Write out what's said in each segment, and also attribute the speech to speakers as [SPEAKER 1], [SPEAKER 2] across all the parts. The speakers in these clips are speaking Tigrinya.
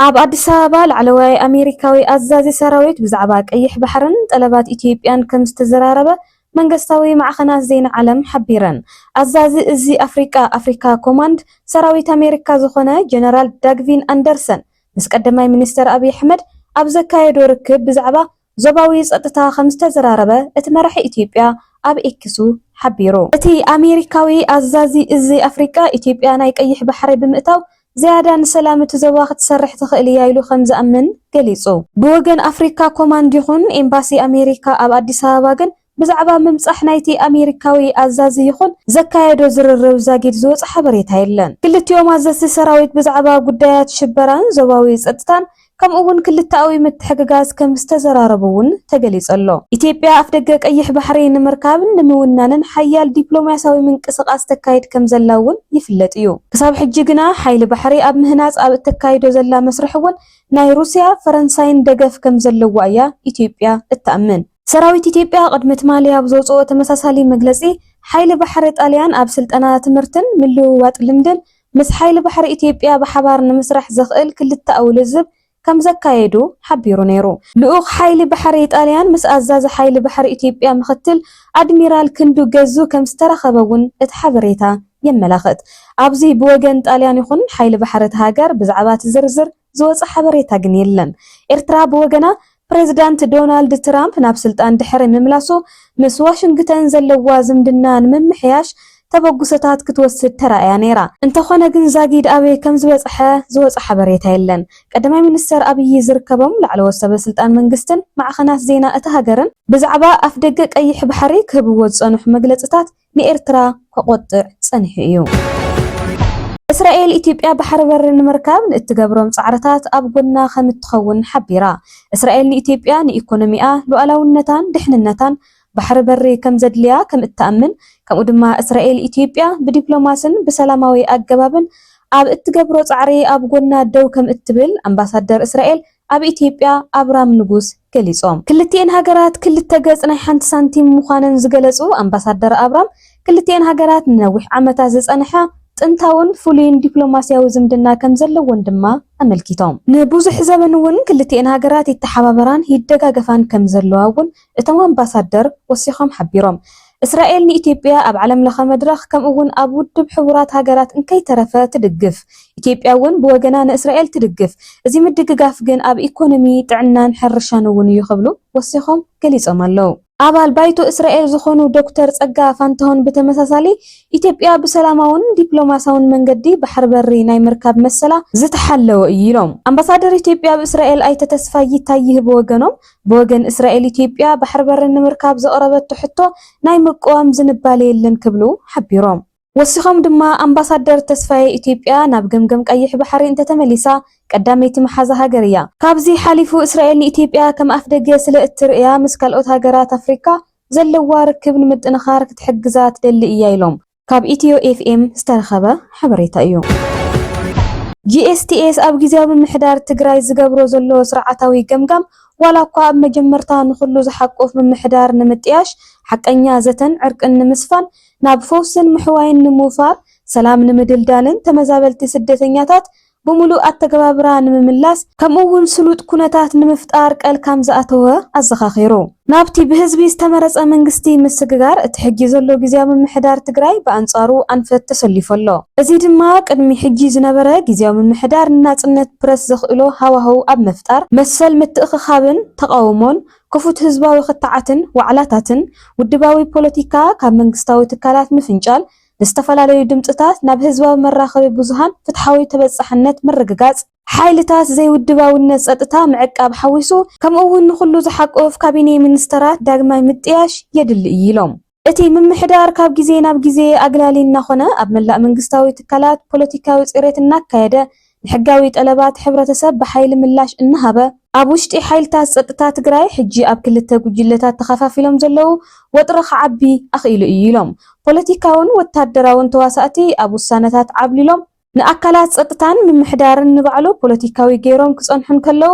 [SPEAKER 1] ኣብ ኣዲስ ኣበባ ላዕለዋይ ኣሜሪካዊ ኣዛዚ ሰራዊት ብዛዕባ ቀይሕ ባሕርን ጠለባት ኢትዮጵያን ከም ዝተዘራረበ መንገስታዊ ማዕኸናት ዜና ዓለም ሓቢረን። ኣዛዚ እዚ ኣፍሪቃ፣ ኣፍሪካ ኮማንድ፣ ሰራዊት ኣሜሪካ ዝኾነ ጀነራል ዳግቪን ኣንደርሰን ምስ ቀዳማይ ሚኒስተር ኣብይ ኣሕመድ ኣብ ዘካየዶ ርክብ ብዛዕባ ዞባዊ ጸጥታ ከም ዝተዘራረበ እቲ መራሒ ኢትዮጵያ ኣብ ኤክሱ ሓቢሩ። እቲ ኣሜሪካዊ ኣዛዚ እዚ ኣፍሪቃ፣ ኢትዮጵያ ናይ ቀይሕ ባሕሪ ብምእታው ዝያዳ ንሰላም እቲ ዞባ ክትሰርሕ ትኽእል እያ ኢሉ ከም ዝኣምን ገሊጹ። ብወገን ኣፍሪካ ኮማንድ ይኹን ኤምባሲ ኣሜሪካ ኣብ ኣዲስ ኣበባ ግን ብዛዕባ ምምጻሕ ናይቲ ኣሜሪካዊ ኣዛዚ ይኹን ዘካየዶ ዝርርብ ዛጊድ ዝወጸ ሓበሬታ የለን። ክልቲኦም ኣዘዝቲ ሰራዊት ብዛዕባ ጉዳያት ሽበራን ዞባዊ ጸጥታን ከምኡ'ውን ክልተኣዊ ምትሕግጋዝ ከም ዝተዘራረቡ'ውን ተገሊጸሎ። ኢትዮጵያ ኣፍደገ ቀይሕ ባሕሪ ንምርካብን ንምውናንን ሓያል ዲፕሎማስያዊ ምንቅስቓስ ተካይድ ከም ዘላ'ውን ይፍለጥ እዩ። ክሳብ ሕጂ ግና ሓይሊ ባሕሪ ኣብ ምህናጽ ኣብ እተካይዶ ዘላ መስርሕ'ውን ናይ ሩስያ፣ ፈረንሳይን ደገፍ ከም ዘለዋ እያ ኢትዮጵያ እትኣምን። ሰራዊት ኢትዮጵያ ቅድሚ ትማሊ ኣብ ዘውጽኦ ተመሳሳሊ መግለጺ፣ ሓይሊ ባሕሪ ጣልያን ኣብ ስልጠና፣ ትምህርትን ምልውዋጥ ልምድን ምስ ሓይሊ ባሕሪ ኢትዮጵያ ብሓባር ንምስራሕ ዘኽእል ክልተኣዊ ልዝብ ከምዘካየዱ ሓቢሩ ነይሩ። ልኡኽ ሓይሊ ባሕሪ ጣልያን ምስ ኣዛዚ ሓይሊ ባሕሪ ኢትዮጵያ ምኽትል ኣድሚራል ክንዱ ገዙ ከምዝተራኸበ'ውን እቲ ሓበሬታ የመላኽት። ኣብዚ ብወገን ጣልያን ይኹን ሓይሊ ባሕሪ እታ ሃገር ብዛዕባ'ቲ ዝርዝር ዝወጸ ሓበሬታ ግን የለን። ኤርትራ ብወገና፣ ፕሬዝዳንት ዶናልድ ትራምፕ ናብ ስልጣን ድሕሪ ምምላሱ፣ ምስ ዋሽንግተን ዘለዋ ዝምድና ንምምሕያሽ ተበግሶታት ክትወስድ ተራእያ ነይራ። እንተኾነ ግን ዛጊድ ኣበይ ከምዝበጽሐ ዝወጸ ሓበሬታ የለን። ቀዳማይ ሚኒስተር ኣብዪ ዝርከቦም ላዕለዎት ሰበስልጣን መንግስትን ማዕኸናት ዜና እታ ሃገርን፣ ብዛዕባ ኣፍደገ ቀይሕ ባሕሪ ክህብዎ ዝጸንሑ መግለጽታት ንኤርትራ ከቖጥዕ ጸኒሑ እዩ። እስራኤል፣ ኢትዮጵያ ባሕሪ በሪ ንምርካብ ንእትገብሮም ጻዕርታት ኣብ ጎና ከም እትኸውን ሓቢራ። እስራኤል ንኢትዮጵያ ንኢኮኖሚኣ፣ ሉኣላውነታን ድሕንነታን ባሕሪ በሪ ከም ዘድልያ ከም እትኣምን ከምኡ ድማ እስራኤል ኢትዮጵያ ብዲፕሎማስን ብሰላማዊ ኣገባብን ኣብ እትገብሮ ጻዕሪ ኣብ ጎና ደው ከም እትብል ኣምባሳደር እስራኤል ኣብ ኢትዮጵያ ኣብራም ንጉስ ገሊፆም። ክልቲኤን ሃገራት ክልተ ገፅ ናይ ሓንቲ ሳንቲም ምዃነን ዝገለፁ ኣምባሳደር ኣብራም፣ ክልቲኤን ሃገራት ንነዊሕ ዓመታት ዝፀንሐ ጥንታውን ፍሉይን ዲፕሎማሲያዊ ዝምድና ከምዘለወን ድማ ኣመልኪቶም። ንብዙሕ ዘበን እውን ክልቲኤን ሃገራት ይተሓባበራን ይደጋገፋን ከምዘለዋ እውን እቶም ኣምባሳደር ወሲኾም ሓቢሮም። እስራኤል ንኢትዮጵያ ኣብ ዓለም ለኸ መድረኽ ከምኡ እውን ኣብ ውድብ ሕቡራት ሃገራት እንከይተረፈ ትድግፍ። ኢትዮጵያ እውን ብወገና ንእስራኤል ትድግፍ። እዚ ምድግጋፍ ግን ኣብ ኢኮኖሚ፣ ጥዕናን ሕርሻን እውን እዩ ክብሉ ወሲኾም ገሊፆም ኣለው። ኣባል ባይቶ እስራኤል ዝኾኑ ዶክተር ፀጋ ፋንታሁን ብተመሳሳሊ ኢትዮጵያ ብሰላማውን ዲፕሎማሳውን መንገዲ ባሕሪ በሪ ናይ ምርካብ መሰላ ዝተሓለወ እዩ ኢሎም። ኣምባሳደር ኢትዮጵያ ኣብ እስራኤል ኣይተ ተስፋይ ይታይ ይህ ብወገኖም ብወገን እስራኤል ኢትዮጵያ ባሕሪ በሪ ንምርካብ ዘቕረበቶ ሕቶ ናይ ምቅዋም ዝንባሌ የለን ክብሉ ሓቢሮም። ወሲኾም ድማ ኣምባሳደር ተስፋዬ ኢትዮጵያ ናብ ገምገም ቀይሕ ባሕሪ እንተተመሊሳ ቀዳመይቲ መሓዛ ሃገር እያ፣ ካብዚ ሓሊፉ እስራኤል ንኢትዮጵያ ከም ኣፍደገ ስለ እትርእያ ምስ ካልኦት ሃገራት ኣፍሪካ ዘለዋ ርክብ ንምጥንኻር ክትሕግዛ ትደሊ እያ ኢሎም። ካብ ኢትዮ ኤፍኤም ዝተረኸበ ሓበሬታ እዩ። GSTS ኣብ ጊዜያዊ ምምሕዳር ትግራይ ዝገብሮ ዘሎ ስርዓታዊ ገምጋም ዋላ እኳ ኣብ መጀመርታ ንኹሉ ዝሓቁፍ ምምሕዳር ንምጥያሽ፣ ሓቀኛ ዘተን ዕርቅን ንምስፋን፣ ናብ ፈውስን ምሕዋይን ንምውፋር፣ ሰላም ንምድልዳልን ተመዛበልቲ ስደተኛታት ብምሉእ ኣተገባብራ ንምምላስ ከምኡ እውን ስሉጥ ኩነታት ንምፍጣር ቀል ካም ዝኣተወ ኣዘኻኺሩ። ናብቲ ብህዝቢ ዝተመረፀ መንግስቲ ምስግጋር እቲ ሕጂ ዘሎ ግዝያዊ ምምሕዳር ትግራይ ብኣንፃሩ ኣንፈት ተሰሊፉ ኣሎ። እዚ ድማ ቅድሚ ሕጂ ዝነበረ ግዝያዊ ምምሕዳር ንናፅነት ፕረስ ዘኽእሎ ሃዋህው ኣብ ምፍጣር መሰል ምትእኽኻብን ተቓውሞን፣ ክፉት ህዝባዊ ክትዓትን ዋዕላታትን፣ ውድባዊ ፖለቲካ ካብ መንግስታዊ ትካላት ምፍንጫል፣ ንዝተፈላለዩ ድምፅታት ናብ ህዝባዊ መራኸቢ ብዙሃን ፍትሓዊ ተበፃሕነት ምርግጋፅ፣ ሓይልታት ዘይውድባዊነት ፀጥታ ምዕቃብ ሓዊሱ ከምኡ እውን ንኹሉ ዝሓቁፍ ካቢኔ ሚኒስተራት ዳግማይ ምጥያሽ የድሊ እዩ ኢሎም። እቲ ምምሕዳር ካብ ግዜ ናብ ግዜ ኣግላሊ እናኾነ ኣብ መላእ መንግስታዊ ትካላት ፖለቲካዊ ፅሬት እናካየደ ንሕጋዊ ጠለባት ሕብረተሰብ ብሓይሊ ምላሽ እናሃበ፣ ኣብ ውሽጢ ሓይልታት ፀጥታ ትግራይ ሕጂ ኣብ ክልተ ጉጅለታት ተኸፋፊሎም ዘለዉ ወጥሪ ክዓቢ ኣኽኢሉ እዩ ኢሎም። ፖለቲካውን ወታደራውን ተዋሳእቲ ኣብ ውሳነታት ዓብሊሎም፣ ንኣካላት ፀጥታን ምምሕዳርን ንባዕሉ ፖለቲካዊ ገይሮም ክፀንሑ እንከለዉ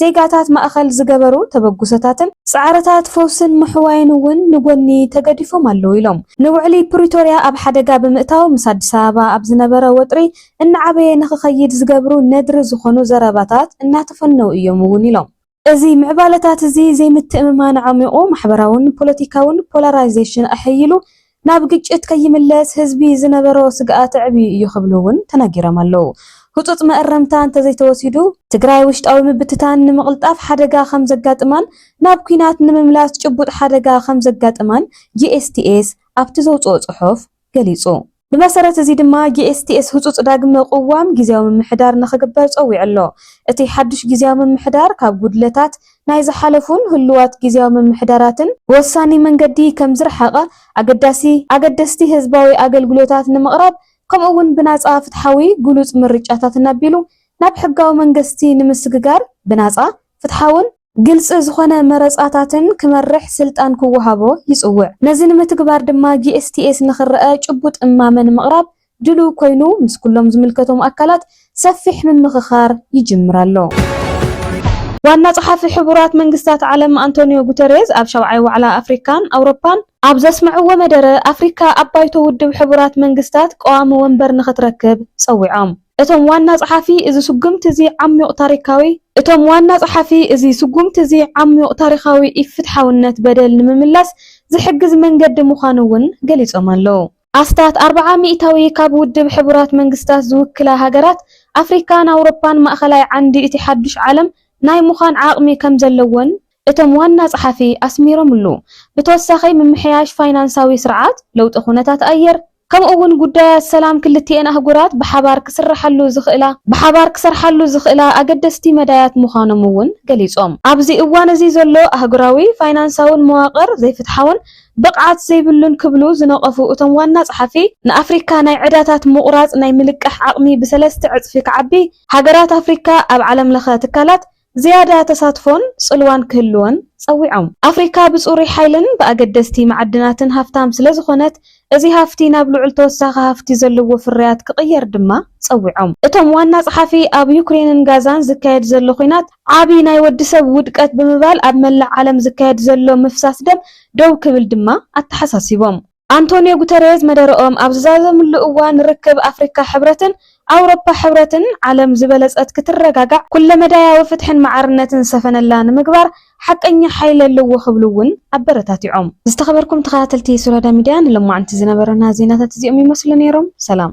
[SPEAKER 1] ዜጋታት ማእኸል ዝገበሩ ተበግሶታትን ፃዕርታት ፈውስን ምሕዋይን እውን ንጎኒ ተገዲፎም ኣለው ኢሎም። ንውዕሊ ፕሪቶርያ ኣብ ሓደጋ ብምእታው ምስ ኣዲስ ኣበባ ኣብ ዝነበረ ወጥሪ እናዓበየ ንኽኸይድ ዝገብሩ ነድሪ ዝኾኑ ዘረባታት እናተፈነው እዮም እውን ኢሎም። እዚ ምዕባለታት እዚ ዘይምትእምማን ኣዕሚቑ፣ ማሕበራውን ፖለቲካውን ፖላራይዜሽን ኣሐይሉ፣ ናብ ግጭት ከይምለስ ህዝቢ ዝነበሮ ስግኣት ኣዕብዩ እዩ ክብሉ እውን ተናጊሮም ኣለው። ህፁፅ መእረምታ እንተዘይተወሲዱ፣ ትግራይ ውሽጣዊ ምብትታን ንምቕልጣፍ ሓደጋ ከምዘጋጥማን ናብ ኲናት ንምምላስ ጭቡጥ ሓደጋ ከምዘጋጥማን ጂኤስቲኤስ ኣብቲ ዘውፅኦ ፅሑፍ ገሊፁ። ብመሰረት እዚ ድማ ጂኤስቲኤስ ህፁፅ ዳግመ ቕዋም ጊዚያዊ ምምሕዳር ንኽግበር ፀዊዑ ኣሎ። እቲ ሓዱሽ ጊዚያዊ ምምሕዳር ካብ ጉድለታት ናይ ዝሓለፉን ህሉዋት ግዝያዊ ምምሕዳራትን ብወሳኒ መንገዲ ከምዝረሓቐ፣ ኣገዳሲ ኣገደስቲ ህዝባዊ ኣገልግሎታት ንምቕራብ ከምኡ እውን ብናጻ ፍትሓዊ ግሉጽ ምርጫታት እናቢሉ ናብ ሕጋዊ መንገስቲ ንምስግጋር ብናጻ ፍትሓውን ግልጺ ዝኾነ መረጻታትን ክመርሕ ስልጣን ክወሃቦ ይጽውዕ። ነዚ ንምትግባር ድማ GSTS ንክረኣ ጭቡጥ እማመ ንምቕራብ ድሉው ኮይኑ ምስ ኩሎም ዝምልከቶም ኣካላት ሰፊሕ ምምኽኻር ይጅምር ኣሎ። ዋና ጸሓፊ ሕቡራት መንግስታት ዓለም ኣንቶንዮ ጉተሬዝ ኣብ ሻውዓይ ዋዕላ ኣፍሪካን ኣውሮፓን፣ ኣብ ዘስምዕዎ መደረ፣ ኣፍሪካ ኣብ ባይቶ ውድብ ሕቡራት መንግስታት ቀዋሚ ወንበር ንኽትረክብ ጸዊዖም። እቶም ዋና ጸሓፊ እዚ ስጉምቲ እዚ ዓሚዩቕ ታሪካዊ። እቶም ዋና ጸሓፊ እዚ ስጉምቲ እዚ ዓሚዩቕ ታሪኻዊ ኢፍትሓውነት በደል ንምምላስ ዝሕግዝ መንገዲ ምዃኑ እውን ገሊጾም ኣለው። ኣስታት ኣርብዓ ሚእታዊ ካብ ውድብ ሕቡራት መንግስታት ዝውክላ ሃገራት ኣፍሪካን ኣውሮፓን ማእኸላይ ዓንዲ እቲ ሓዱሽ ዓለም ናይ ምዃን ዓቕሚ ከምዘለወን እቶም ዋና ፀሓፊ ኣስሚሮምሉ። ብተወሳኺ ምምሕያሽ ፋይናንሳዊ ስርዓት፣ ለውጢ ኩነታት ኣየር ከምኡ እውን ጉዳያት ሰላም ክልቲኤን ኣህጉራት ብሓባር ክስርሓሉ ዝኽእላ ብሓባር ክሰርሓሉ ዝኽእላ ኣገደስቲ መዳያት ምዃኖም እውን ገሊፆም። ኣብዚ እዋን እዚ ዘሎ ኣህጉራዊ ፋይናንሳውን መዋቕር ዘይፍትሓውን፣ ብቕዓት ዘይብሉን ክብሉ ዝነቐፉ እቶም ዋና ጸሓፊ፣ ንኣፍሪካ ናይ ዕዳታት ምቑራጽ ናይ ምልቃሕ ዓቕሚ ብሰለስተ ዕጽፊ ክዓቢ፣ ሃገራት ኣፍሪካ ኣብ ዓለምለኸ ትካላት ዝያዳ ተሳትፎን ጽልዋን ክህልወን ጸዊዖም። ኣፍሪካ ብጽሩይ ሓይልን ብኣገደስቲ መዓድናትን ሃፍታም ስለዝኾነት፣ እዚ ሃፍቲ ናብ ልዑል ተወሳኺ ሃፍቲ ዘለዎ ፍርያት ክቕየር ድማ ጸዊዖም። እቶም ዋና ጸሓፊ፣ ኣብ ዩክሬንን ጋዛን ዝካየድ ዘሎ ኹናት ዓቢ ናይ ወዲ ሰብ ውድቀት ብምባል፣ ኣብ መላእ ዓለም ዝካየድ ዘሎ ምፍሳስ ደም ደው ክብል ድማ ኣተሓሳሲቦም። ኣንቶንዮ ጉተሬዝ መደረኦም ኣብ ዝዛዘምሉ እዋን ርክብ ኣፍሪካ ሕብረትን ኣውሮፓ ሕብረትን ዓለም ዝበለፀት ክትረጋጋዕ ኩለመዳያዊ ፍትሕን ማዕርነትን ዝሰፈነላ ንምግባር ሓቀኛ ሓይሊ ኣለዎ ክብሉ እውን ኣበረታቲዖም። ዝተኸበርኩም ተኸታተልቲ ሱራዳ ሚድያ ንሎማዕንቲ ዝነበረና ዜናታት እዚኦም ይመስሉ ነይሮም። ሰላም።